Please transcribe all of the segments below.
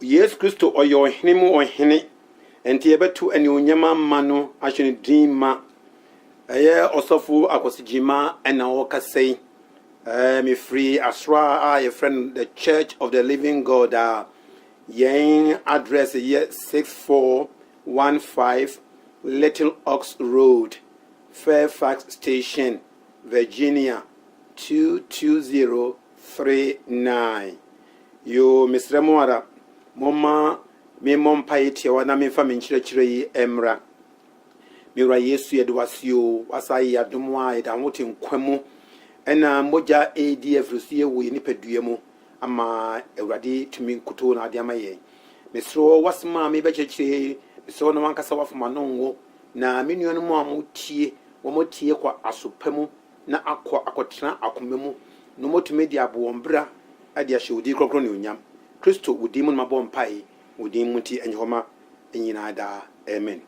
Yesu Kristo, ɔyɛ ɔhene mu ɔhene, enti yɛbɛto anuonyam ama no, ahyɛ no din ma. Ɛyɛ ɔsɔfo Akwasi Gyima na ɔrekasa yi. Ɛɛ, mefiri asra a yɛfrɛ no The Church of the Living God a yɛn address yɛ 6415 Little Ox Road, Fairfax Station, Virginia 220. three nine yoo mesrɛ mo ara momma me mmɔ mpaeɛ tiawa na memfa me nkyerɛkyerɛ yi mmra me wura yesu yɛde wase o wasa yɛ adom a yɛda ho te nkwa mu ɛna mogya ɛredi afiri so yɛ wɔ yɛ nipadua mu ama awurade tumi nkutoo na ade ama yɛn mesrɛ wasɛm a mebɛkyerɛkyerɛ mesrɛ na wankasa wafama no ngo na me nuanom a motie wɔn atie kɔ asopa mu na akɔ akɔtena akoma mu na wɔatumi de abɔ wɔn bra de ahyɛ wo din kronkron anuonyam. Kristo, wo din mu na mabɔ mpae, wo din mu nti, ɛnyɛ hɔ ma nyinaa daa. Amen.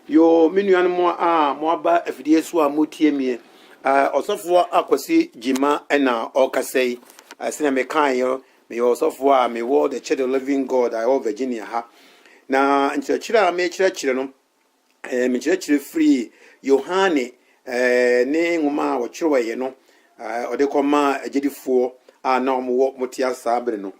Yoo, me nuanom a moaba afidie so a motie me, ɔsɔfoɔ a Kwasi Gyima na ɔrekasa yi, sɛnea mekaeɛ, meyɛ ɔsɔfoɔ a mewɔ The Church of Living God a ɛwɔ Virginia ha. Na nkyerɛkyerɛ a mekyerɛkyerɛ no, ɛɛ mekyerɛkyerɛ firii Yohane ɛɛ ne nwoma a ɔtwerɛeɛ no ɛɛ ɔde kɔmaa agyedifoɔ a na wɔwɔ wɔte ase saa bere no.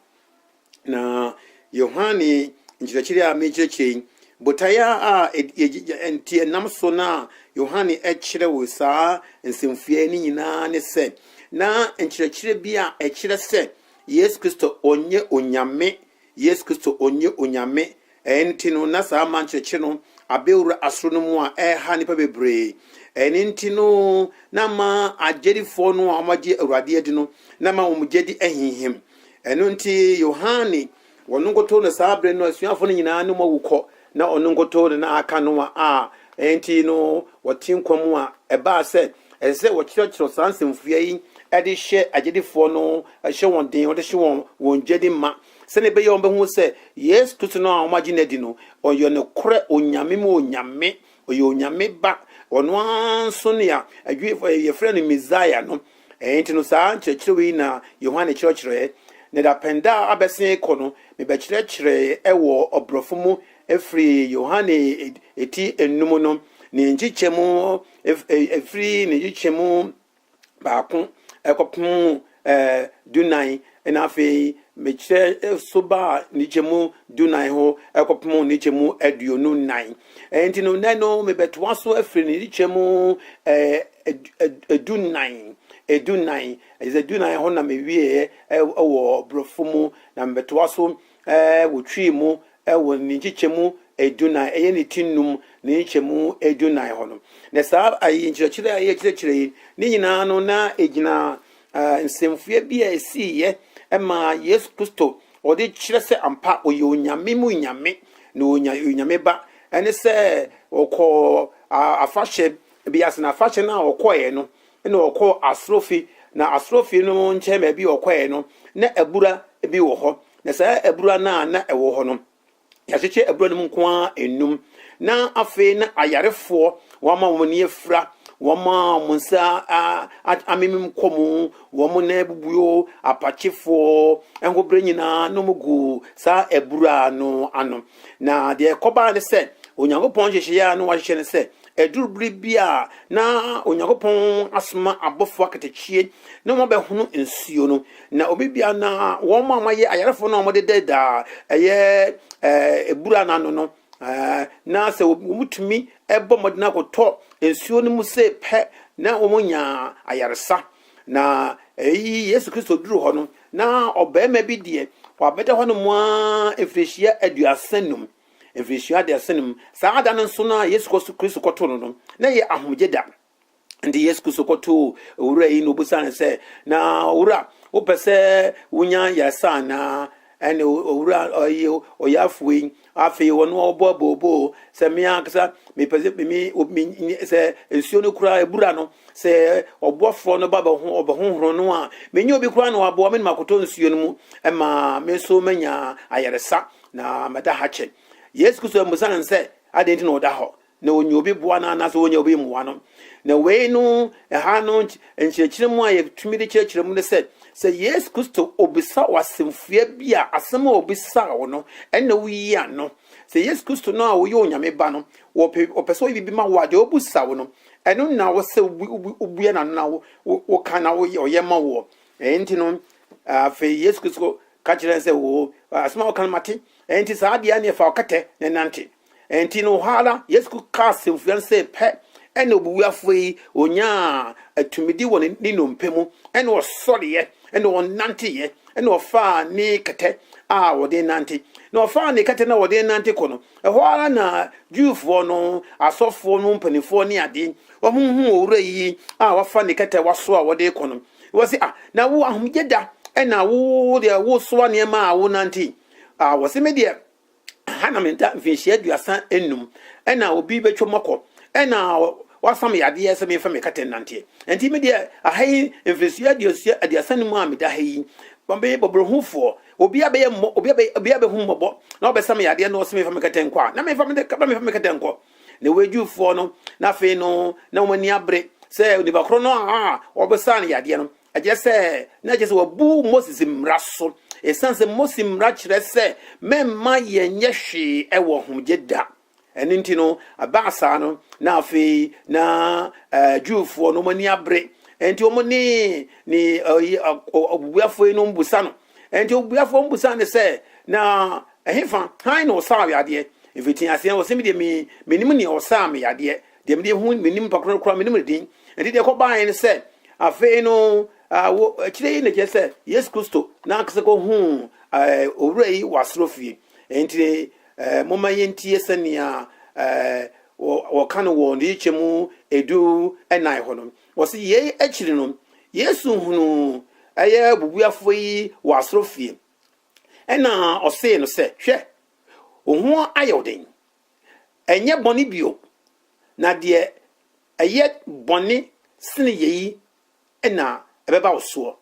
Na Yohane nkyerɛkyerɛ a mekyerɛkyerɛ yi, botaeɛ a nti ɛnam so na Yohane kyerɛw saa nsɛmfua no nyinaa ne sɛ na nkyerɛkyerɛ bi a ɛkyerɛ sɛ Yesu Kristo ɔnyɛ Onyame Yesu Kristo ɔnyɛ Onyame, ɛɛ nti no na saa mma nkyerɛkyerɛ no abɛwura asoro no mu a ɛreha nnipa bebree. Ɛne nti no na ma agyedifoɔ no a wɔagye Awurade adi no, na ma wɔn gyedi ahinhim. Ɛno nti Yohane, wɔn nkotoo na saa bere no asuafoɔ no nyinaa ne wɔn awu kɔ, Ná ɔno nkutoo na na aka Noa a enti no wɔte nkwa mu a ɛbaa sɛ ɛsɛ sɛ wɔkyerɛkyerɛw saa nsɛmfua yi de hyɛ agyidifo no hyɛ wɔn den, wɔde hyɛ wɔn wɔn gyidi ma, sɛnea ɛbɛyɛ a wɔbehu sɛ Yesu Kristo no a wɔagye no adi no, ɔyɛ nokorɛ Onyame mu Onyame, ɔyɛ Onyame Ba, ɔno ara nso nea Adwuifo yɛfrɛ no Mesia no. Ɛno nti no, saa nkyerɛkyerɛwee yi na Yohane kyerɛkyerɛɛ, na dapɛn da a abɛsen kɔ no, mebɛkyerɛkyerɛɛ wɔ ɔborɔfo mu firi Yohane ti nnum no ne nkyekyɛ mu, firi ne nkyekyɛ mu baako kɔpem dunan, na afei mekyerɛ so baa ne kyɛmu dunan ho kɔpem ne kyɛmu aduonu nnan. Enti no, nnɛ no, mebɛtoa so afiri ne kyɛmu dunan, dunan, ɛsɛ dunan hɔ na mewieɛ wɔ borɔfo mu, na mebɛtoa so wɔ twi mu wɔ ne nkyekyɛmu dunan, ɛyɛ ne ti nnum ne nkyɛmu dunan hɔ no. Na saa nkyerɛkyerɛ a yɛkyerɛkyerɛ yi ne nyinaa no na ɛgyina Nsɛmfua bi a esiiɛ maa Yesu Kristo a wɔde kyerɛ sɛ ampa ɔyɛ Onyame mu Nyame na ɔyɛ Onyame Ba ne sɛ ɔkɔɔ afahyɛ bi ase, na afahyɛ no a ɔkɔeɛ no, na ɔkɔ asrɔfi, na asrɔfi no nkyɛn baabi a ɔkɔeɛ no, na abura bi wɔ hɔ, na saa abura no a na ɛwɔ hɔ no, Yɛakyekyɛ abura no mu nko ara nnum, na afei na ayarefoɔ wɔama wɔn ani afira, wɔma wɔn nsa amemem kɔ mu, wɔn nan abubuo, apakyefoɔ ɛho berɛ nyinaa na wɔn gu saa abura no ano. Na deɛ ɛkɔbaa ne sɛ, Onyankopɔn nhyehyɛeɛ a na wɔahyehyɛ ne sɛ Ɛduru bere bi a na Onyankopɔn asoma abɔfo akatakyi na wɔabɛhono nsuo no, na obi bia na wɔn a wɔayɛ ayarefo no a wɔde dɛda a ɛyɛ ebura no ano no, na sɛ wɔtumi bɔ mmɔden akɔtɔ nsuo no mu sɛ pɛ na wɔnya ayaresa. Na eyi Yesu Kristo duru hɔ no, na ɔbarima bi deɛ wabɛda hɔnom ara mfirihyia aduasa num. Mfirihyia aduasa no mu, saa da no nso no a Yesu Kristo kɔtoo no no, na ɛyɛ ahomegye da. Nti Yesu Kristo kɔtoo owura yi na obisaa no sɛ, na owura, wopɛ sɛ wonya yɛsa anaa? ɛne owura ɔyi ɔyafo yi afei ɔno ɔbɔ abooboo sɛ me ankasa mepɛ sɛ me sɛ nsuo no koraa ebura no Sɛ ɔboafoɔ no ba bɛho ɔbɛhohoro no a, mennyɛ obi koraa na waboa me na makɔtɔ nsuo no mu ma me nso manya ayaresa na mɛda ha kyɛ. Yesu Kristo ammisa no sɛ adɛn nti na ɔda hɔ na ɔnya obi boa no anaasɛ ɔnya obi mmoa no. Na wei no, ɛha no nkyerɛkyerɛ mu a yɛtumi de kyerɛkyerɛ mu ne sɛ, sɛ Yesu Kristo ɔbisa wo asɛmfua bi a, asɛm a ɔbisaa wo no, ɛnna woyi ano. Sɛ Yesu Kristo no a ɔyɛ Onyame Ba no, ɔpɛ, ɔpɛ sɛ ɔyɛ biribi ma wo a, deɛ ɔbisa wo no, Ɛno na wo sɛ wobue n'ano na woka na woyɛ ɔyɛ ma woɔ. Ɛyɛ nti no, afei Yesu Kristo ka kyerɛ sɛ o asɛm a woka no mate. Ɛyɛ nti saa adeɛ ne ɛfa ɔkɛtɛ na ɛnante. Ɛyɛ nti no hɔ ara Yesu Kristo kaa asɛmfua no sɛ pɛ ɛna obubuafoɔ yi onyaa atumidi wɔ ne nnompe mu ɛna ɔsɔreɛ ɛna ɔnanteeɛ ɛna ɔfaa ne kɛtɛ a wɔde nante na ɔfaa ne kɛtɛ na wɔde nante kɔ no Ɛhɔ ara na Jewfoɔ no asɔfoɔ no mpanimfoɔ ne ade, wɔhunu owura yi a wafa ne kɛtɛwa so a wɔde rekɔ no, wɔse, ah, na wo ahomegye da, ɛna wo deɛ wosoa nneɛma a wonante. Ah, wɔse me deɛ, ha na meda mfinhyia aduasa nnum, ɛna obi bɛtwa mu akɔ, ɛna wafa me yadeɛ sɛ memfa me kɛtɛ nnanteɛ. Ɛnti me deɛ, aha yi mfinhyia aduasa nnum a meda ha yi, bɔborohufoɔ, Obia bɛyɛ mmɔ, obia bɛ, obia bɛhu mmɔbɔ, na ɔbɛsa me yadeɛ na ɔse mefa me kɛtɛ nkɔ a, na mefa me, na mefa me kɛtɛ nkɔ. Na wei Jewfoɔ no, na afei no, na wɔn ani abere sɛ onipa korɔ no a wɔbɛsaa no yadeɛ no, ɛkyerɛ sɛ, na ɛkyerɛ sɛ wabu Moses mmara so, ɛsiane sɛ Moses mmara kyerɛ sɛ mɛmma yɛnyɛ hwee wɔ ahomegye da. Ɛno nti no, ɛbaa saa no, na afei na eh, Jewfoɔ no wɔn ani abere. Enti wɔn ne ne ɛyi eh, ɔ- ɔ- ɔbubuafoɔ yi no mbusa no. Enti ɔbubuafoɔ mbusa no sɛ, na ɛhefa, han na ɔsaa wo yadeɛ? Mfiti aseɛ no, ɔsɛ me deɛ me menim nea ɔsaa me yadeɛ. Deɛ mede ho menim nipa korɔ no koraa menim ne din. Enti deɛ ɛkɔbaeɛ ne sɛ, afei no ah, wo akyire yi na kyerɛ sɛ Yesu Kristo na ankasa kɔhuu eh, owura yi wɔ asorɔfie. Enti Ɛɛ, momma yentie sɛnea ɛɛ wɔ, wɔka no wɔ Nneyɛe Kyɛm Edu Nnan hɔ no. Wɔsi yei akyiri no, Yesu hunuu ɛyɛ bubuafoɔ yi wɔ asɔrefie. Ɛna ɔsee no sɛ, Hwɛ, wo ho ayɛ wo den. Ɛnyɛ bɔne bio, na deɛ ɛyɛ bɔne sene yei na ɛbɛba wo soɔ.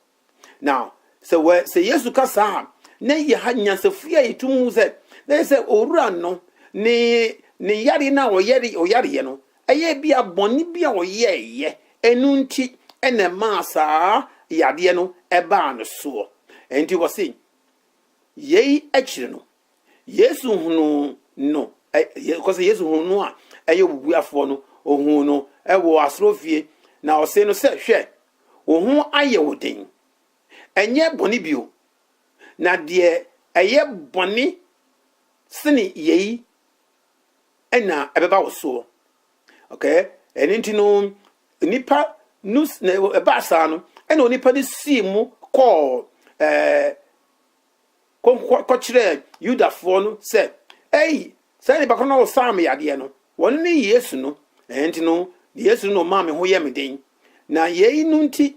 Now, sɛ wɔ sɛ Yesu ka saa a, na yɛ ha nyansafo a yɛtum hu sɛ na yɛ sɛ owura no ne ne yare no a ɔyare ɔyareɛ no ɛyɛ bi a bɔne bi a ɔyɛɛyɛ ɛno nti ɛna ɛmaa saa yadeɛ no ɛbaa no soɔ. Ɛnti wɔ se yei akyire no Yesu hunuu no, kɔ sɛ Yesu hunuu no a ɛyɛ obubuafoɔ no, ohuu no wɔ asɔrɔfie, na ɔsee no sɛ, Hwɛ, wo ho ayɛ wo den, ɛnyɛ bɔne bio, na deɛ ɛyɛ bɔne sene yei na ɛbɛba wo soɔ. Okay, ɛno nti no, nipa no ɛbaa saa no, ɛna onipa no sii mu kɔɔ ɛɛ kɔkyerɛɛ Yudafoɔ no sɛ, Ei, saa nipa korɔ no a ɔsaa me yadeɛ no, ɔno ne Yesu no. Ɛno nti no, Yesu no na ɔmaa me ho yɛ me den. Na yei no nti,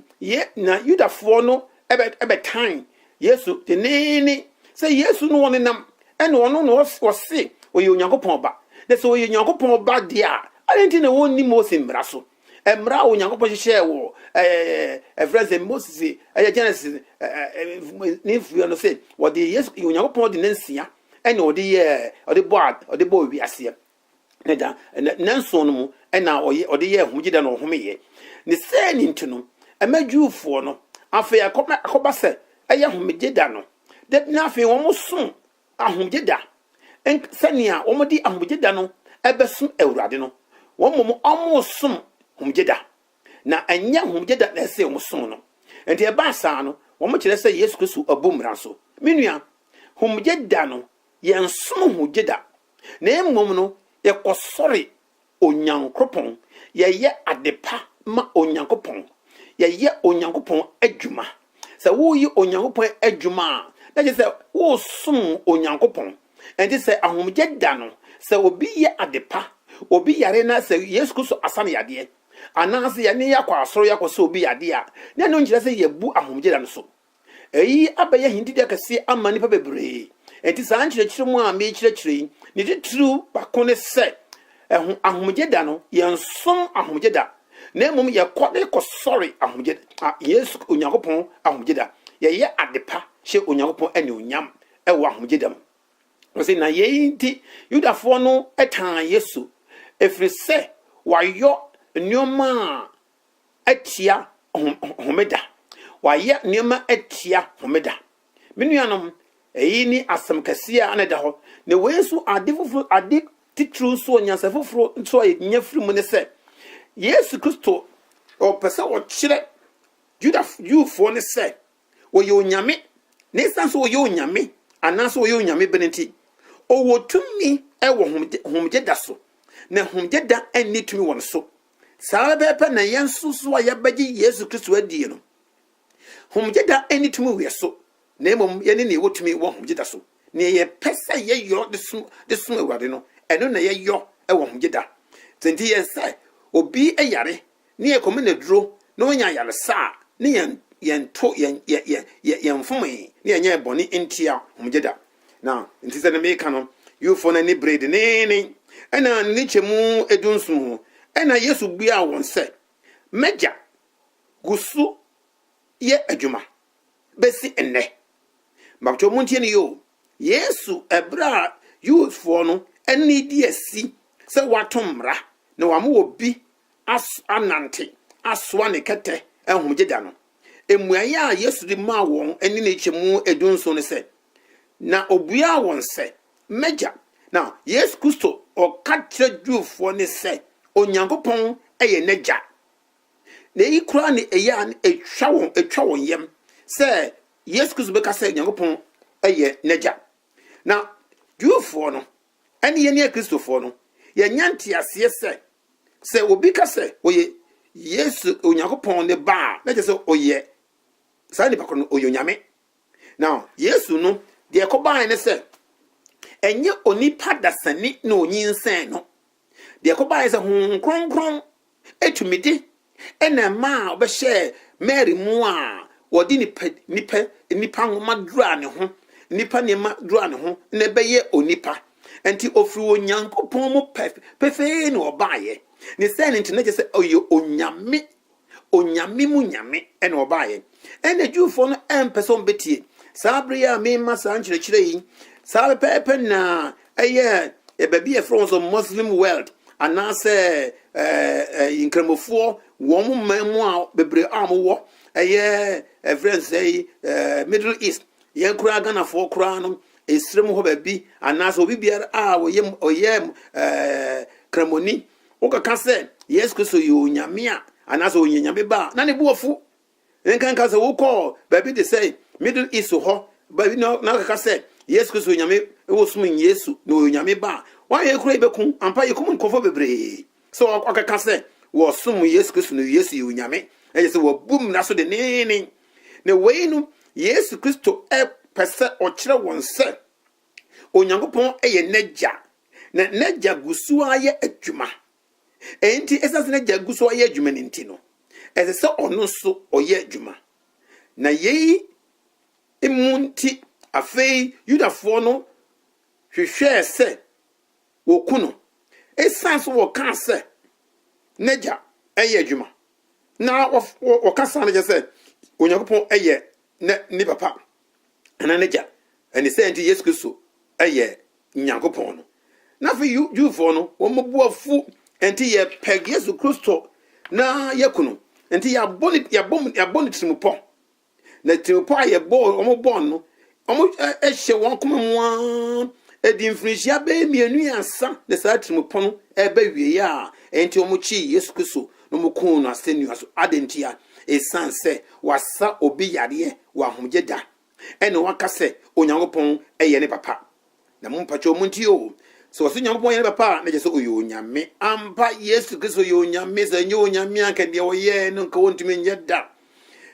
na Yudafoɔ no bɛtan Yesu denneene sɛ Yesu no ɔnenam, ɛna ɔno na ɔse ɔyɛ Onyankopɔn Ba. Na sɛ ɔyɛ Onyankopɔn Ba deɛ a, adɛn nti na ɔnni Mose mmara so? mmara a onyankopɔn hyehyɛɛ wɔ ɛfrɛ sɛ moses ɛyɛ genesis ne mfuɛ no sɛ wɔde yesu onyankopɔn de nansia ɛna ɔde yɛ ɔde bɔ ɔde bɔ wiaseɛ ne da nanson no mu ɛna ɔyɛ ɔde yɛ homegyeda na ɔhomeyɛ ne sɛ ne nti no ɛma juufoɔ no afei akɔba akɔba sɛ ɛyɛ homegyeda no da na afei wɔn som Ahomgyeda, nk. Sɛnea wɔde Ahomgyeda no bɛsom Awurade no, wɔn mmom wɔresom Homgyeda, na ɛnyɛ Homgyeda na ɛsɛ wɔsom no. Enti ɛbaa saa no, wɔkyerɛ sɛ Yesu Kristo abu mmara so. Me nua, Homgyeda no, yɛnsom ho gyeda, na mmom no, yɛkɔsɔre Onyankopɔn, yɛyɛ adepa ma Onyankopɔn, yɛyɛ Onyankopɔn adwuma. Sɛ woreyɛ Onyankopɔn adwuma a, na kyerɛ sɛ woresom Onyankopɔn. Ɛnti sɛ ahomegye da no, sɛ obi yɛ adepa, obi yare na sɛ Yesu Kristo asa no yadeɛ, anaasɛ yɛne yɛakɔ asɔre akɔsa obi yadeɛ a, na ɛno nkyerɛ sɛ yɛabu ahomegye da no so. Eyi abɛyɛ ahendidi akɛse ama nnipa bebree. Enti saa nkyerɛkyerɛ mu a merekyerɛkyerɛ yi, ne titiriw baako ne sɛ, ɛho ahomegye da no, yɛnsom ahomegye da, na mmom yɛkɔ de kɔsɔre ahomegye da, Yesu, Onyankopɔn ahomegye da. Yɛyɛ ade pa hyɛ Onyankopɔn anuonyam wɔ ahomegye da mu. Wɔse na yei nti Yudafoɔ no tan Yesu, ɛfiri sɛ wayɔ nneɛma a atia Homeda. Wɔayɛ nneɛma atia Homeda. Me nuanom, eyi ne asɛm kɛse a na ɛda hɔ. Na wei nso, ade foforo, ade titiriw nso, nyansa foforo nso a yenya firi mu ne sɛ, Yesu Kristo, ɔpɛ sɛ ɔkyerɛ Yuda, Jewfoɔ no sɛ ɔyɛ Onyame, na esiane sɛ ɔyɛ Onyame, anaasɛ ɔyɛ Onyame bene nti, ɔwɔ tumi wɔ Homeda so, na Homeda nni tumi wɔ ne so. Saa ara pɛpɛ na yɛn nso so a yɛabɛgye Yesu Kristo adie no, homegye da nni tumi wɔ yɛn so, na mmom yɛne nea ɛwɔ tumi wɔ homegye da so. Nea yɛpɛ sɛ yɛyɔ de som de som Awurade no, ɛno na yɛyɔ wɔ homegye da. Sɛ nti yɛn sɛ obi yare ne yɛkɔ mena aduro na ɔnya ayaresa a, ne yɛn yɛn to yɛn yɛn yɛn yɛn mfomee ne yɛnyɛɛ bɔne ntia homegye da. na nti sɛ ne meka no yufoɔ no ani beree deneennen ɛna ne kyɛmu edu nson ho ɛna yesu buaa wɔn sɛ mɛgya gu so yɛ adwuma bɛsi nnɛ mabtɔ mu ntie no yɛ o yesu ɛberɛ a yufoɔ no ani di asi sɛ wato mmara na wama obi anante asoa ne kɛtɛ ahomegye da no. Mmuae a Yesu de maa wɔn ne ne nkyɛmu edu nson no sɛ, Na obuaa wɔn sɛ, M'Agya. Ná Yesu Kristo reka kyerɛ Jewfoɔ no sɛ Onyankopɔn yɛ n'Agya. Na eyi koraa na ɛyɛ a na ɛtwa wɔn ɛtwa wɔn yam sɛ Yesu Kristo bɛka sɛ Onyankopɔn yɛ n'Agya. Na Jewfoɔ no ne yɛn a yɛyɛ Kristofoɔ no, yɛnya nteaseɛ sɛ Sɛ obi ka sɛ ɔyɛ Yesu, Onyankopɔn ne Ba a, na kyerɛ sɛ ɔyɛ saa nipa koro no, ɔyɛ Onyame. Na Yesu no, deɛ ɛkɔbaeɛ ne sɛ, ɛnyɛ onipa dasani na ɔnyinsɛn no. Deɛ ɛkɔbaeɛ sɛ Honhom Kronkron tumidi na ɛmaa ɔbɛhyɛɛ Mary mu a wɔde nipa nipa nipa nwoma duraa ne ho, nipa nneɛma duraa ne ho na ɛbɛyɛ onipa. Nti ofiri Onyankopɔn mu pefee na ɔbaeɛ. Ne sɛ ne nti na kyerɛ sɛ ɔyɛ onyame, onyame mu nyame na ɔbaeɛ. Ɛna Jewfoɔ no ɛmpɛ sɛ wɔbɛtie. Saa bere a mema saa nkyerɛkyerɛ yi, saa pɛpɛɛpɛ na Ɛyɛ ɛ, baabi a yɛfrɛ wɔn sɛ Muslim world anaasɛ ɛɛ ɛ nkramofoɔ wɔn man mu a bebree a wɔwɔ ɛyɛ ɛfrɛ no sɛ ɛɛ Middle East yɛn koraa Ghanafoɔ koraa no esrɛ mu hɔ baabi anaasɛ obi biara a ɔyɛ ɔyɛ ɛɛ kramoni wokaka sɛ Yesu Kristo yɛ onyame a anaasɛ ɔnyɛ nyame ba a na ne bo afu Nkanka sɛ wokɔɔ baabi te sɛ Middle East hɔ baabi na wɔkeka sɛ Yesu Kristo yɛ Onyame, wosom Yesu na ɔyɛ Onyame Ba a, woayɛ kura yi bɛku. Ampa, yɛkum nkurɔfoɔ bebree sɛ wɔkeka sɛ wɔsom Yesu Kristo na Yesu yɛ Onyame, na kyerɛ sɛ wɔabu mmara so denneennen. Na wei no, Yesu Kristo pɛ sɛ ɔkyerɛ wɔn sɛ Onyankopɔn yɛ n'Agya, na n'Agya gu so ara yɛ adwuma Enti ɛsɛ sɛ n'agya gu so ayɛ adwuma no nti no, ɛsɛ sɛ ɔno nso ɔyɛ adwuma. Na yei mu nti, afei Yudafoɔ no hwehwɛɛ sɛ wɔku no, ɛsiane sɛ wɔkaa sɛ n'agya yɛ adwuma, na wɔka saa no kyerɛ sɛ Onyankopɔn yɛ ne papa. anaa n'agya. Ɛne sɛ nti Yesu Kristo yɛ Nyankopɔn no. Na afei Jewfoɔ no, wɔn bo afu, nti yɛpɛg Yesu Kristo na yɛku no. Nti yɛabɔ ne yɛabɔ mu yɛabɔ ne tirimupɔ. Na tirimupɔ a yɛbɔ wɔn bɔ no, wɔn ɛ- ɛhyɛ wɔn koma mu ara. Ɛdi mfirinhyia bɛyɛ mmienu ansa na saa tirimupɔ no ɛbɛ wie a, ɛnti wɔn kyee Yesu Kristo na wɔn kuu no asɛnnua so. Adɛn ntia? Ɛsiane sɛ wasa obi yadeɛ wɔ ahomegye da, ɛne waka sɛ Onyankopɔn yɛ ne papa. Na mo mpakyɛw montie o, sɛ wɔse Onyankopɔn yɛ ne papa a, na kyerɛ sɛ ɔyɛ Onyame ampa. Yesu Kristo yɛ Onyame, sɛ ɛnyɛ Onyame a, anka deɛ ɔyɛɛ no nka ɔntumi nyɛ da.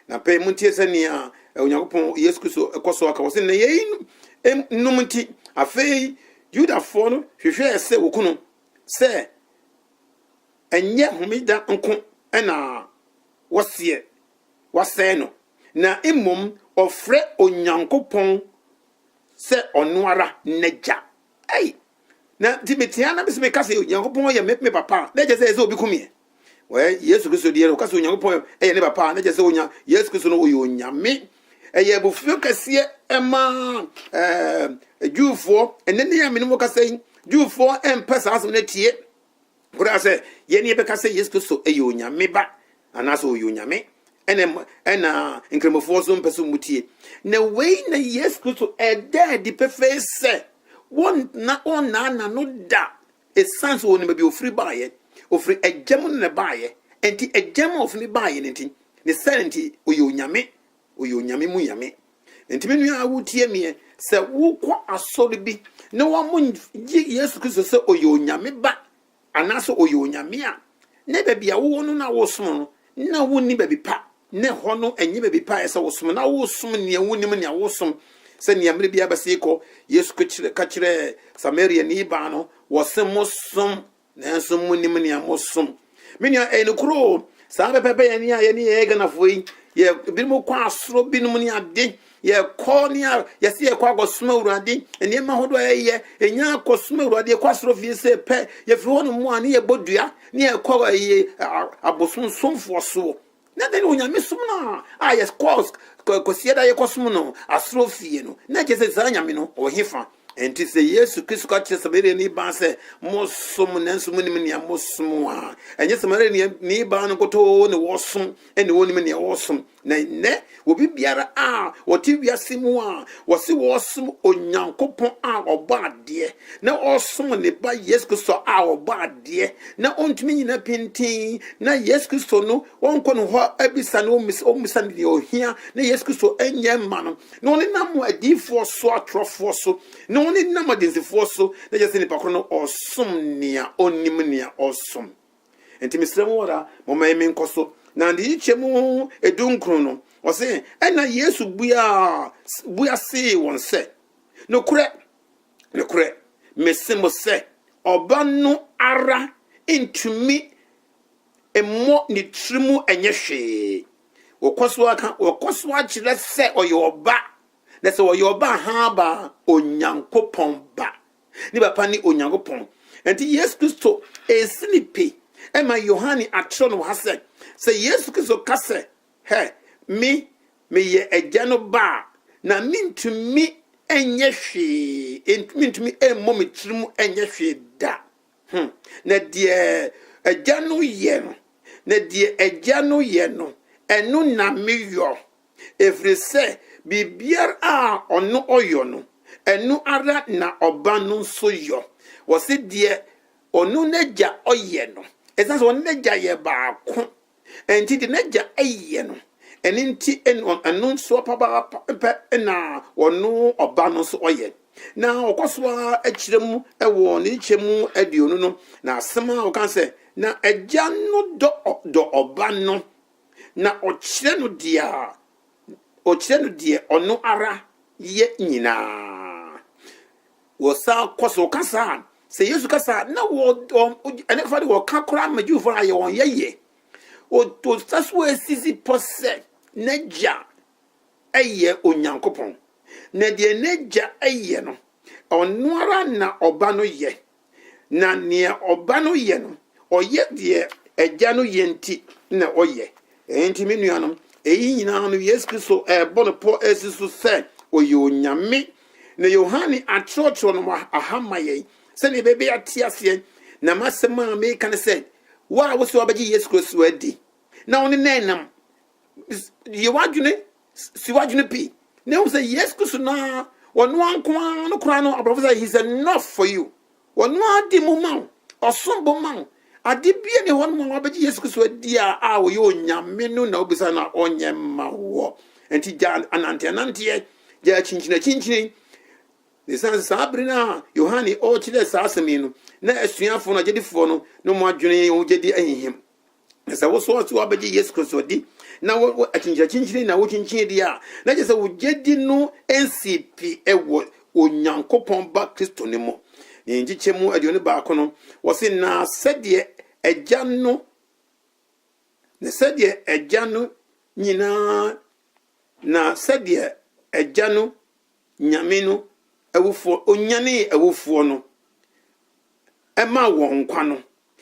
Na pɛi montie sɛnea Onyankopɔn Yesu Kristo kɔ so aka, ɔse na yɛyi nom nti, afei Yudafoɔ no hwehwɛɛ sɛ wɔku no, sɛ ɛnyɛ homeda nko na wɔseɛ wɔasɛe no, na mmom ɔfrɛ Onyankopɔn sɛ ɔno ara n'Agya. Ei! Na nti mete ha na mese meka sɛ Onyankopɔn yɛ me papa a, na ɛkyɛ sɛ ɛsɛ sɛ obi kum yɛ. Wɔyɛ Yesu Kristo deɛ no, ɔka sɛ Onyankopɔn yɛ ne papa a, na ɛkyɛ sɛ onya Yesu Kristo no ɔyɛ Onyame. Ɛyɛ abufuo kɛseɛ ɛma ɛɛ Jewfoɔ, ɛnɛ ne yɛ a mene mo kasa yi, Jewfoɔ ɛmpɛ saa asɛm no atie. Koraa sɛ yɛn ne yɛbɛka sɛ Yesu Kristo yɛ Onyame Ba anaasɛ ɔyɛ Onyame ɛna ɛna nkramofoɔ nso mpɛ sɛ wɔtie. Na wei na Yesu Kristo ɛda adi pefee sɛ wɔnna ɔnnaa n'ano da ɛsiane sɛ wɔnim baabi ɔfiri baeɛ. Ɔfiri agya mu na na ɛbaeɛ. Enti agya mu a ɔfiri ne baeɛ no nti ne sɛ nti ɔyɛ Onyame Ɔyɛ onyame mu nyame. Nti me nua a wotie meɛ, sɛ wokɔ asɔre bi na wɔgye Yesu Kristo sɛ ɔyɛ onyame ba anaasɛ ɔyɛ onyame a, na baabi a wowɔ no na wosom no, na wonni baabi pa. Na hɔ no ɛnyɛ baabi pa a ɛsɛ wosom, na wosom nea wonim nea wosom. Sɛnea mmerɛ biara bɛsee kɔ, Yesu ka kyerɛɛ Samariani baa no, wɔse mosom Nanso monim nea mosom. Me nua, ɛyɛ nokoro o. Saa pɛpɛpɛ yɛn a yɛne yɛyɛ Ghanafoɔ yi, yɛ binom kɔ asoro binom ne ade, yɛkɔ ne a yɛse yɛkɔ akɔsom Awurade, nneɛma hodoɔ a yɛyɛ, ɛnya akɔsom Awurade, yɛkɔ asoro fie sɛ pɛ, yɛfiri hɔ no mu a ne yɛbɔ dua, ne yɛkɔ ɛyɛ abosomsomfoɔ soɔ. Na dɛn ne onyamesom no a yɛkɔ Kwasida a yɛkɔsom no asɔre fie no? Na ɛkyerɛ sɛ saa Nyame no ɔwɔ he fa? Ɛnti sɛ Yesu Kristo ka kyerɛ Samariani baa sɛ, Mosom nanso monnim nea mosom a, ɛnyɛ Samariani baa no nkutoo ne wɔsom, ɛne wɔnnim nea wɔsom. Na nnɛ, Obi biara a ɔte wiase mu a wɔse wɔresom Onyankopɔn a ɔbɔ adeɛ na ɔresom ne ba Yesu Kristo a ɔbɔ adeɛ na ɔntumi nyina pintinn na Yesu Kristo no ɔnkɔ ne hɔ abisa no ɔmmisa no deɛ ɔhia na Yesu Kristo ɛnyɛ mma no na ɔne nam adiifoɔ so atorɔfoɔ so na ɔne nam adansifoɔ so na yɛsɛ nipa korɔ no ɔsom nea ɔnim nea ɔsom nti mesrɛ mo ara moma yɛ menkɔ so na de yi kyɛ mu edu nkron no ɔse ɛna yesu bua bua see wɔn sɛ nokorɛ nokorɛ mese mo sɛ ɔba no ara ntumi mmɔ ne tiri mu ɛnyɛ hwee wɔkɔ so aka wɔkɔ so akyerɛ sɛ ɔyɛ ɔba na sɛ ɔyɛ ɔba ha ba onyankopɔn ba Ne papa ne Onyankopɔn. Enti Yesu Kristo resi no pi ma Yohane akyerɛw no wɔ ha sɛ, sɛ Yesu Kristo ka sɛ, Hɛ, me, meyɛ Agya no ba a, na mintumi nyɛ hwee, mintumi mmɔ me tirim nyɛ hwee da. Hmm. Na deɛ Agya no yɛ no, na deɛ Agya no yɛ no, ɛno na meyɔ. ɛfiri sɛ biribiara a ɔno ɔyɔ no, ɛno ara na ɔba no nso yɔ. Wɔse deɛ ɔno n'agya ɔyɛ no, ɛsiane sɛ ɔne n'agya yɛ baako nti, deɛ n'agya yɛ no, ɛno nti ɛno nso papaapa pɛ na ɔno ɔba no nso ɔyɛ. Na ɔkɔ so ara kyerɛ mu wɔ ne nkyekyɛ mu aduonu no, na asɛm a ɔka sɛ, na agya no dɔ ɔba no na ɔkyerɛ no deɛ ɔkyerɛ no deɛ ɔno ara yɛ nyinaa. Wɔsan kɔ so kasa a, sɛ Yesu kasa a, na wɔ ɛne fa de wɔka koraa ma Jewfoɔ no ayɛ wɔn yɛyɛ. Ɔsa so asisi pɔ sɛ n'agya yɛ Onyankopɔn, na deɛ n'agya yɛ no, ɔno ara na ɔba no yɛ. Na nea Ɔba no yɛ no, ɔyɛ deɛ Agya no yɛ nti na ɔyɛ. Enti me nuanom, eyi nyinaa no Yesu Kristo rebɔ no pɔ asi so sɛ ɔyɛ Onyame. Na Yohane atwerɛtwerɛ no aha ma yɛn sɛdeɛ yɛbɛbɛ ate aseɛ. Na m'asɛm a mereka ne sɛ, wo a wosɛ wobɛgye Yesu Kristo adi, na wo ne no nam yɛ w'adwene si w'adwene pi na ehu sɛ yesu kristo na ɔno anko ara no koraa no aborɔfo sɛ he is enough for you ɔno ara di mu ma wo ɔsom bo ma wo ade bia ne hɔ no ma wabɛgye yesu kristo adi a a ɔyɛ onyame no na wobisa na ɔnyɛ mma woɔ nti gya ananteananteɛ gya akyinkyinakyinkyini ne sane sɛ saa bere no a yohane ɔrekyerɛ saa asɛm yi no na asuafoɔ no agyedifoɔ no ne ɔmo adwene ɔmo gyedi ahihim na sɛ wosɔ ɔso abɛgye yesu kristo di na wo wo- akyinkyinakyinkyini na wokyinkyin di a na kyerɛ sɛ wogye di no nsi pi wɔ onyankopɔn ba kristo no mu ne nkyekyɛ mu aduonu baako no wɔse na sɛdeɛ agya no na sɛdeɛ agya no nyinaa na sɛdeɛ agya no Nyame no awufoɔ, Ɔnyanee awufoɔ no maa wɔn nkwa no,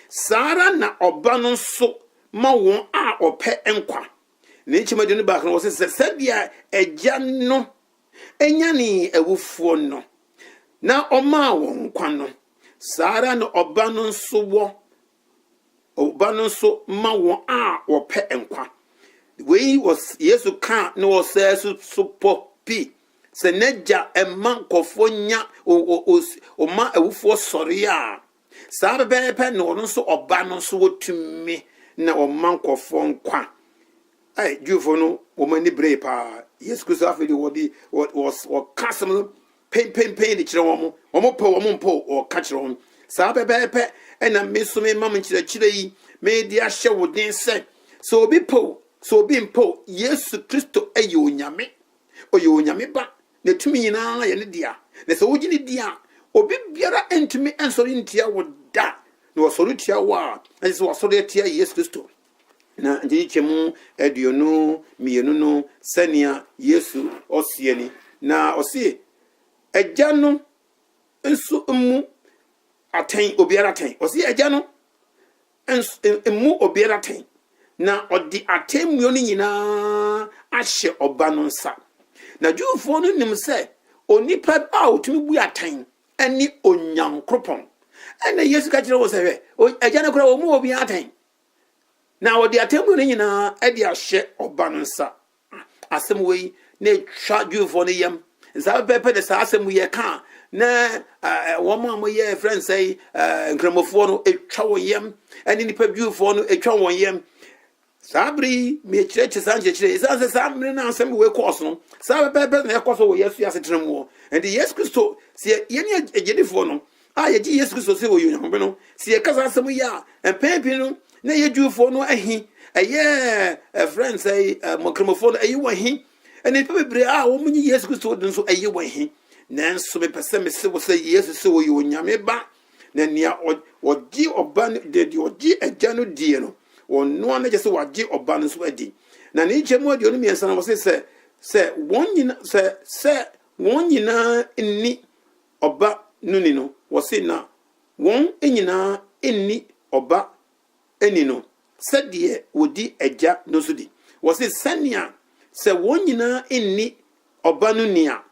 saa ara na Ɔba no nso ma wɔn a Ɔpɛ nkwa. Ne nkyem aduonu baako no, wɔ se sɛ sɛdeɛ Agya no nyanee awufoɔ no na Ɔmaa wɔn nkwa no, saa ara na Ɔba no nso wɔ Ɔba no nso ma wɔn a wɔpɛ nkwa. Wei wɔ Yesu kaa ne ɔsɛɛ so so pɔ pi sɛ n'agya ɛma nkɔfoɔ nya ɔma awufoɔ sɔre a saa pɛpɛɛpɛ na ɔno nso ɔba no nso wɔtumi na ɔma nkɔfoɔ nkwa. Ɛɛ Jewfoɔ no wɔn ani beree paa Yesu Kristo afei de wɔde wɔka asɛm no penpenpen de kyerɛ wɔn, wɔpɛ o, wɔmpo o, wɔka kyerɛ wɔn. Saa pɛpɛɛpɛ na me nso mema mo nkyerɛkyerɛ yi, mede ahyɛ wo den sɛ, sɛ obi pɛ o, sɛ obi mpɛ o, Yesu Kristo yɛ Onyame, ɔyɛ Onyame Ba, na tumi nyinaa yɛ ne dea, na sɛ wogye no di a, obi biara ntumi nsɔre ntia wo da, na ɔsɔre tia wo a, na kyerɛ sɛ wasɔre atia Yesu Kristo. Na nkyekyɛmu aduonu mmienu no sɛnea Yesu ɔseɛ ni, na ɔse agya no nso mmu atɛn obiara atɛn, ɔse agya no mmu obiara atɛn, na ɔde atemmuo no nyinaa ahyɛ ɔba no nsa. Na Jewfoɔ no nim sɛ onipa a ɔtumi bu atɛn ne Onyankopɔn. Ɛna Yesu ka kyerɛ wɔn sɛ, hwɛ, agya no koraa ɔmmu obiara atɛn. na wɔde atemmu no nyinaa de ahyɛ ɔba no nsa. Asɛm wei na etwa Jewfoɔ no yam. Nsa pɛpɛɛpɛ na saa asɛm yɛ ka a, na wɔn a wɔyɛ ɛfrɛ no sɛ nkramofoɔ no etwa wɔn yam, ɛne nipa Jewfoɔ no etwa wɔn yam. Saa bere yi, mekyerɛkyerɛ saa nkyerɛkyerɛ yi, sɛ saa mmere na asɛm wei kɔɔ so no, saa pɛpɛɛpɛ na ɛkɔ so wɔ yɛn so yɛ asetena mu hɔ. Ɛnti Yesu Kristo, sɛ yɛne agyedifoɔ no, a yɛgye Yesu Kristo sɛ ɔyɛ Onyankopɛn no, sɛ yɛka saa asɛm yi a, mpɛn pii no na ɛyɛ Jewfoɔ no ahi, ɛyɛ ɛfrɛ n sɛ mɔkramofoɔ no ɛyɛ wɔn hi, ɛne nnipa bebree a wɔn nye Yesu Kristo de nso ɛyɛ wɔn hi. Nanso mepɛ sɛ mese wo sɛ Yesu sɛ ɔyɛ Onyame ba, na nea ɔgye ɔba no deɛ ɔgye agya no die no, ɔno a na kyɛ sɛ wagye ɔba no nso adi. Na ne nkyɛn mu aduonu mmiɛnsa no wɔse sɛ sɛ wɔn nyina sɛ sɛ wɔn nyinaa nni ɔba no ni no, wɔse na wɔn nyinaa nni ɔba ni no sɛdeɛ wɔdi agya no so di. Wɔse sɛnea sɛ wɔn nyinaa nni ɔba no ni a,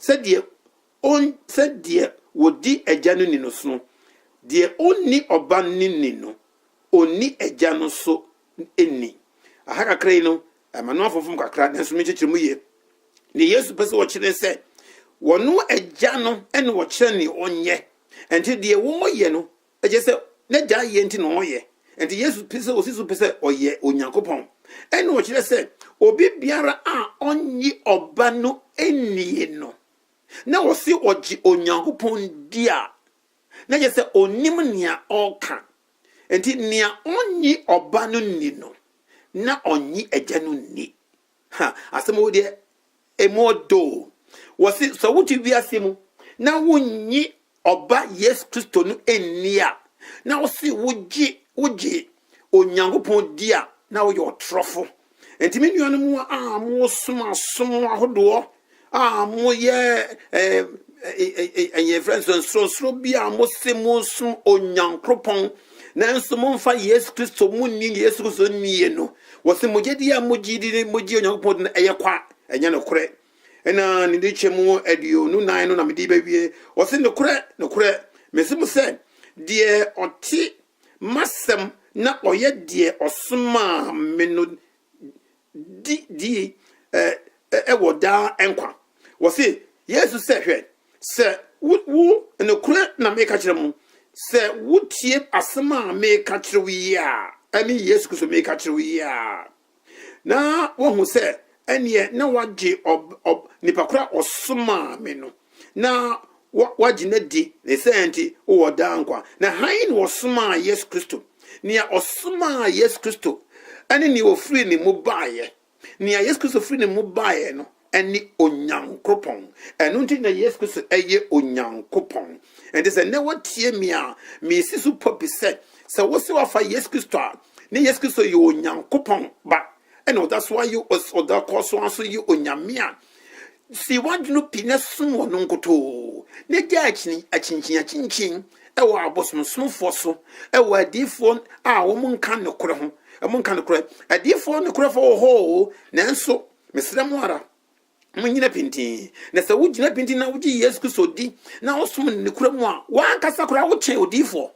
sɛdeɛ ɔn, sɛdeɛ wɔdi agya no ni no sono, deɛ ɔnni ɔba no ni no, ɔnni agya no so nni. Aha kakra yi no, ɛma no afomfom kakra, nanso me kyekyere mu yie. Ne Yesu pɛ sɛ wɔkyerɛ ne sɛ, wɔno agya no ne wɔkyerɛ ne ɔnyɛ. Ɛnti deɛ wɔyɛ no, ɛkyɛ sɛ n'agya yɛ nti na ɔyɛ. Ɛnti Yesu pɛ sɛ ɔsi so pɛ sɛ ɔyɛ Onyankopɔn. Ɛne ɔkyerɛ sɛ, obi biara a ɔnye ɔba no nnie no, na ɔse ɔgye Onyankopɔn di a, na kyerɛ sɛ onnim nea ɔreka. Enti nea onnye Ɔba no nni no, na onnye Agya no nni. Ha, asɛm wei deɛ, emu ɔdɔ o! Wɔse sɛ wote wiase mu na wunnye Ɔba Yesu Kristo no nni a, na wose wogye, wogye Onyankopɔn di a, na woyɛ ɔtorɔfo. Enti me nuanom a mosom asom ahodoɔ a moyɛ ɛyɛ fɛ nso nsorosoro bi a mose mosom Onyankopɔn nanso momfa Yesu Kristo monni Yesu Kristo nnie no wɔse mogye di a mogye di ne mogye Onyankopɔn di no ɛyɛ kwa ɛnyɛ nokorɛ ɛna ne de kyɛ mu aduonu nan no na mede bɛwie wɔse nokorɛ nokorɛ mese mo sɛ deɛ ɔte m'asɛm na ɔyɛ deɛ ɔsomaa me no di die ɛ, wɔ daa nkwa. Wɔse Yesu sɛ, Hwɛ, sɛ wo, wo, nokorɛ na meeka kyerɛ mo, sɛ wotie asɛm a meeka kyerɛ wo yi a, ɛne Yesu Kristo meeka kyerɛ wo yi a, na wɔahu sɛ ɛneɛ na wagye nipa koro a ɔsomaa me no na wagye no adi ne sɛ nti wɔ daa nkwa na han na ɔsomaa yesu kristo nea ɔsomaa yesu kristo ɛne nea ɔfiri ne mu baeɛ nea yesu kristo firi ne mu baeɛ no ne Onyankopɔn. Ɛno nti na Yesu Kristo yɛ Onyankopɔn. Ɛnti sɛ nnɛ wotie me a, mesi so pɔ bi sɛ, sɛ wo se wafa Yesu Kristo a, ne Yesu Kristo yɛ Onyankopɔn ba, ɛna ɔda so ayɛ, ɔda kɔ so aso yɛ Onyame a, si w'adwene pi na som ɔno nkotoo, na gya akyinkyin akyinkyin ɛwɔ abosomsomfoɔ so, ɛwɔ adiifoɔ a wɔn nka nokorɛ ho, wɔn nka nokorɛ, adiifoɔ nokorɛfoɔ wɔ hɔ o, nanso Mesrɛ mo ara, munnyina pintinn. Na sɛ wugyina pintinn na wugye Yesu Kristo di na wosom no nokorɛ mu a, w'ankasa koraa wokyɛn odiyifoɔ.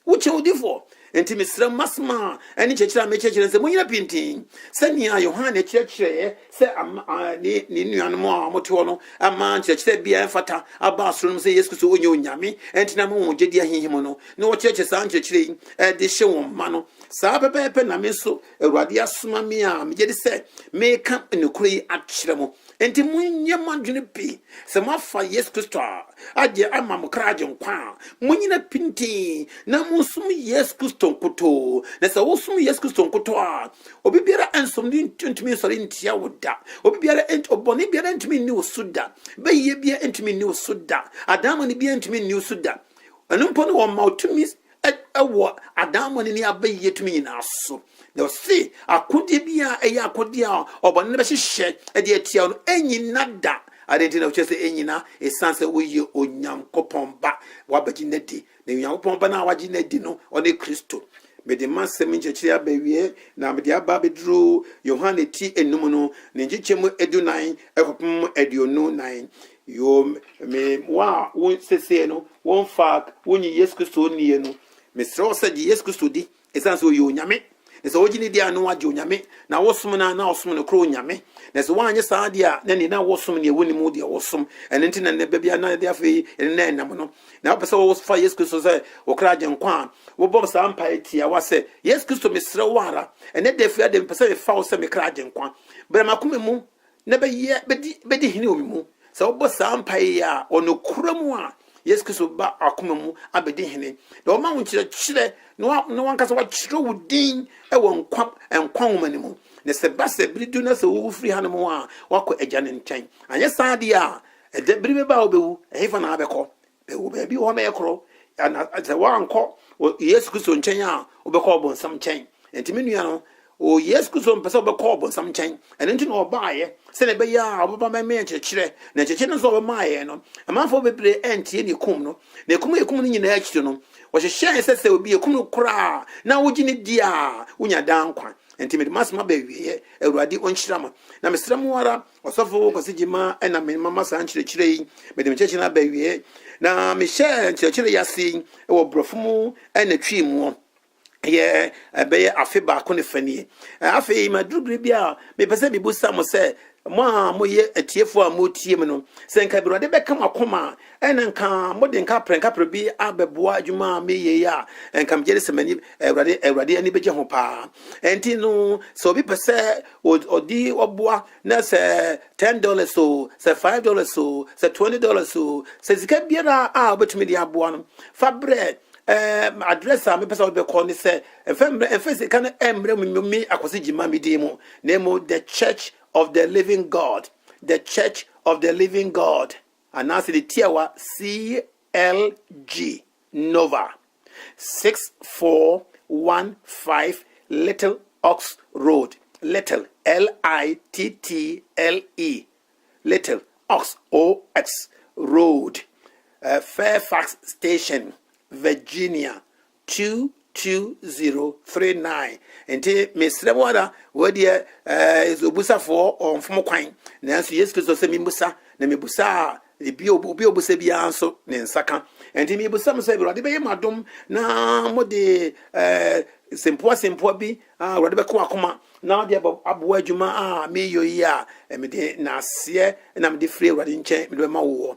Wokyɛn odiyifoɔ. Enti mesrɛ mo, m'asɛm a ɛne nkyerɛkyerɛ a mekyerɛkyerɛ no sɛ munnyina pintinn sɛnea Yohane kyerɛkyerɛeɛ sɛ ne ne nuanom a wɔte hɔ no ama nkyerɛkyerɛ bi a ɛmfata aba asoro nom sɛ Yesu Kristo ɔnyɛ onyame ɛnti na ama wɔn gyedie ahinhim no na wɔkyerɛkyerɛ saa nkyerɛkyerɛ yi de hyɛ wɔn mma no. Saa pɛpɛɛpɛ na me nso Awurade asoma me a megye di sɛ mereka nokorɛ yi akyerɛ mo. Enti monyɛ mo adwene pi. Sɛ moafa Yesu Kristo a, agye ama mo kra agye nkwa a, monnyina pintinn na monsom Yesu Kristo nkutoo. Na sɛ wosom Yesu Kristo nkutoo a, obi biara nsom no ntumi nsɔre ntia wo da. Obi biara, ɔbɔne biara ntumi nni wo so da. Bɛyɛ biara ntumi nni wo so da. Adaamone biara ntumi nni wo so da. Ɛno mpo no, wɔma wo tumi ɛ, wɔ adaemone ne abayie tumi nyinaa so. Na ɔse, akodeɛ bi a ɛyɛ akodeɛ a ɔbɔne no bɛhyehyɛ de atia wo no, ɛnyina da. Adɛn nti na wokyerɛ sɛ ɛnyina? Ɛsiane sɛ woyɛ Onyankopɔn ba, woabɛgye no adi. Na Onyankopɔn ba no a wagye no adi no, ɔne Kristo. Mede m'asɛm nkyerɛkyerɛ yi aba awieɛ, na mede aba abɛduru Yohane ti enum no, ne nkyekyɛmu adunan kɔpem aduonu nan. Yoo, me wɔn a wo sesei no wɔmfa wonnye Yesu Kristo nnie no, mesrɛ wo sɛ gye Yesu Kristo di, ɛsiane sɛ ɔyɛ Onyame, na sɛ wogye ne di a na woagye Onyame, na wosom no a na wosom nokorɛ Onyame, na sɛ woanyɛ saa deɛ a na ɛnneɛ na wosom deɛ wonim wo deɛ wosom, ɛno nti na nnɛ bɛ bia na ɛde afei ɛne na ɛnam no, na wopɛ sɛ wofa Yesu Kristo sɛ wo kra agye nkwa a, wobɔ saa mpaeɛ tiawa sɛ, Yesu Kristo mesrɛ wo ara, ɛnɛ da firi adɛ mepɛ sɛ mefa wo sɛ me kra agye nkwa, bra m'akoma mu, na bɛyɛ bɛdi bɛdi hene wɔ me mu sɛ wɔbɔ saa mpaeɛ yi a wɔ nokorɛ mu a yesu kristo bɛba akoma mu abɛdi hene na wɔma wo nkyerɛkyerɛ na wa- na wankasa wakyerɛ wo din wɔ nkwa nkwa nwoma no mu na sɛ ba sɛ bere du na sɛ wowu firi hanom a wakɔ agya no nkyɛn anyɛ saa deɛ a ɛda bere bɛba a wobɛwu ɛhefa na abɛkɔ Bɛwɔ baabi hɔ bɛyɛ korɔ. Ana sɛ woankɔ o- Yesu Kristo nkyɛn a, wobɛkɔ ɔbonsam nkyɛn. Enti me nua no, o Yesu Kristo mpɛ sɛ wobɛkɔ ɔbonsam nkyɛn. Ɛno nti na ɔbaeɛ, sɛdeɛ ɛbɛyɛ a ɔbɛba bɛma yɛn nkyerɛkyerɛ. Na nkyerɛkyerɛ no nso a ɔbɛmaa yɛn no, amanfoɔ bebree antie na ɛkum no. Na ɛkum a ɛkum no nyinaa akyiri no, wɔhyehyɛɛ sɛ sɛ obi ɛkum no koraa a, na wogye no di a, wonya daa nkwa. Enti mede m'asɛm aba awieeɛ. Awurade ɔnhyira mo. Na mesrɛ mo ara, Ɔsɔfo Kwasi Gyimah na me mama saa nkyerɛkyerɛ yi. Mede me nkyerɛkyerɛ no aba awie. Na mehyɛɛ nkyerɛkyerɛ yi ase wɔ borɔfo mu na twi mu yɛ ɛbɛyɛ afe baako ne fa nie. Afei maduru bere bi a mepɛ sɛ mibu sa mo sɛ mo a moyɛ atiefo a motie mu no, sɛ nka Awurade bɛka mo akoma a, na nka mode nka prɛnkapre bi abɛboa adwuma a meyɛ yi a, nka megye de sɛ m'ani Awurade Awurade ani bɛgye ho paa. Ɛnti no sɛ obi pɛ sɛ Ɔde ɔboa na sɛ ten dollars o, sɛ five dollars o, sɛ twenty dollars o, sɛ sika biara a wobɛtumi de aboa no fa brɛ ɛɛ address a mepɛ sɛ wode bɛkɔ ne sɛ ɛfɛ mmerɛ ɛfɛ sika no ɛmmerɛ mu nyomi akwasi gyima me din mu na emu the church of the living God the church of the living God. anaasɛ ne tiawa CLG Nova 6415 Little Ox Road, Little, L-I-T-T-L-E, Little, Ox, O-X, Road, eh, Fairfax Station, Virginia, 22039 Nti mesrɛ mo ara, wei deɛ eh, ɛsɛ obusafoɔ ɔmfom kwan, nanso Yesu Kristo sɛ memmusa, na mebusa a ebi obi a obusa biara nso ne nsa ka. Nti mebusa mo sɛ Awurade bɛyɛ mo adom na mode eh, sempoa sempoa bi a Awurade bɛka wɔn akoma na ɔde abɔ aboa adwuma a meyɔ yi a eh, mede n'aseɛ na mede firi Awurade nkyɛn mede bɛma woɔ.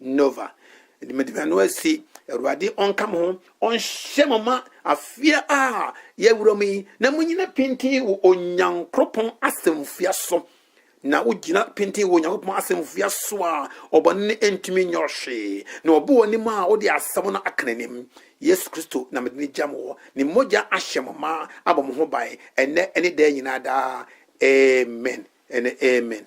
Nova. Enti mede me ano asi Awurade ɔnka mo ho, ɔnhyɛ mo ma afeɛ a yɛawura mu yi, na monyina pintinn wɔ Onyankopɔn asɛmfua so. Na wogyina pintinn wɔ Onyankopɔn asɛmfua so a, ɔbɔne no ntumi nyɛ hwee. Na ɔbɔ w'anim a, wode asɛm no aka n'anim. Yesu Kristo na mede no gya mo hɔ. Ne mogya ahyɛ mo ma abɔ mo ho ban, ɛnnɛ ne daa nyinaa daa. Amen ne amen.